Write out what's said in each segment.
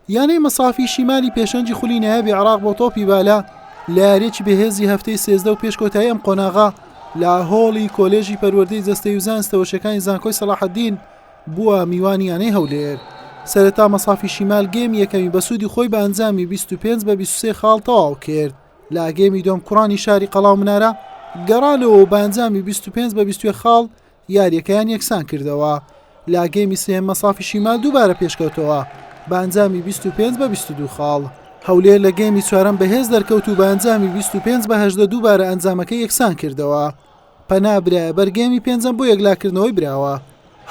یانەی مەسافی شیمالی پێشەنگی خولی نایابی عێراق بۆ تۆپی بالە لە یاریەکی بەهێزی هەفتەی سێزدە و پێش کۆتایی ئەم قۆناغا لە هۆڵی کۆلێژی پەروەردەی جەستەی و زانستەوەشەکانی زانکۆی سەلاحەدین بووە میوانی یانەی هەولێر سەرەتا مەسافی شیمال گەیمی یەکەمی بەسوودی خۆی بە ئەنجامی 25 بە 23 خاڵ تەواو کرد لە گەیمی دۆم کوڕانی شاری قەڵاو منارە گەڕانەوە و بەنجامی 25 بە 20 خاڵ یارییەکەیان یەکسان کردەوە، لە گێمی سێیەم مەسافی شیمال دووبارە پێشکەوتەوە بە ئەنجامی بیست و پێنج بە بیست و دوو خاڵ، هەولێر لە گێمی چوارەم بەهێز دەرکەوت و بە ئەنجامی بیست و پێنج بە هەژدە دووبارە ئەنجامەکە یەکسان کردەوە، پەنا برایە بەر گێمی پێنجەم بۆ یەکلاکردنەوەی براوە،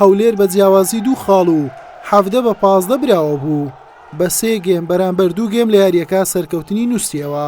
هەولێر بە جیاوازی دوو خاڵ و حەڤدە بە پازدە براوە بوو، بە سێ گێم بەرامبەر دوو گێم لە یارییەکە سەرکەوتنی نووسیەوە.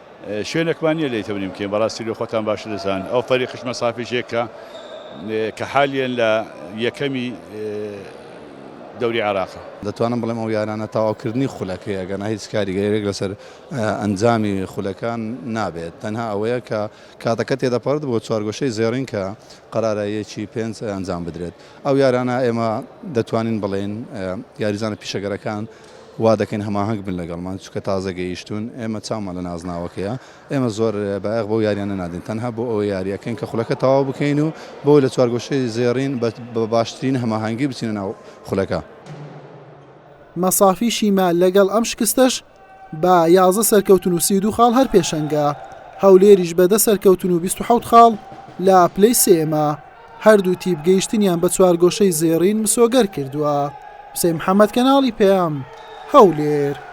شوێنەکمان نیە لێی تەمنی بکەین بەڕاستی لۆ خۆتان باشتر دەزان ئەو فەری قشمە سافی ژێ کە کە حالیەن لە یەکەمی دەوری عێراقە. دەتوانم بڵێم ئەو یارانە تاواو کردنی خولەکەیە ئەگەرنا هیچ کاریگەرێک لەسەر ئەنجامی خولەکان نابێت تەنها ئەوەیە کە کاتەکە تێدەپەڕت بۆ چوارگۆشەی زێڕین کە قەرارە یەکی پێنج ئەنجام بدرێت ئەو یارانە ئێمە دەتوانین بڵێین یاریزانە پیشەگەرەکان وا دەکەین هەماهەنگ بن لەگەڵمان، چونکە تازە گەیشتوون، ئێمە چاومان لە نازناوەکەیە، ئێمە زۆر بایەخ بەو یارییانە نادەین، تەنها بۆ ئەوە یاری ئەکەین کە خولەکە تەواو بکەین و بۆ لە چوارگۆشەی زێڕین بە باشترین هەماهەنگی بچینە ناو خولەکە. مەسافی شیما لەگەڵ ئەم شکستەش بە یازدە سەرکەوتن و سی و دوو خاڵ هەر پێشەنگە، هەولێریش بە دە سەرکەوتن و بیست و حەوت خاڵ لە پلەی سێیەمە. هەردوو تیپ گەیشتنیان بە چوارگۆشەی زێڕین مسۆگەر کردووە. حوسێن محەممەد کەناڵی پەیام، هەولێر.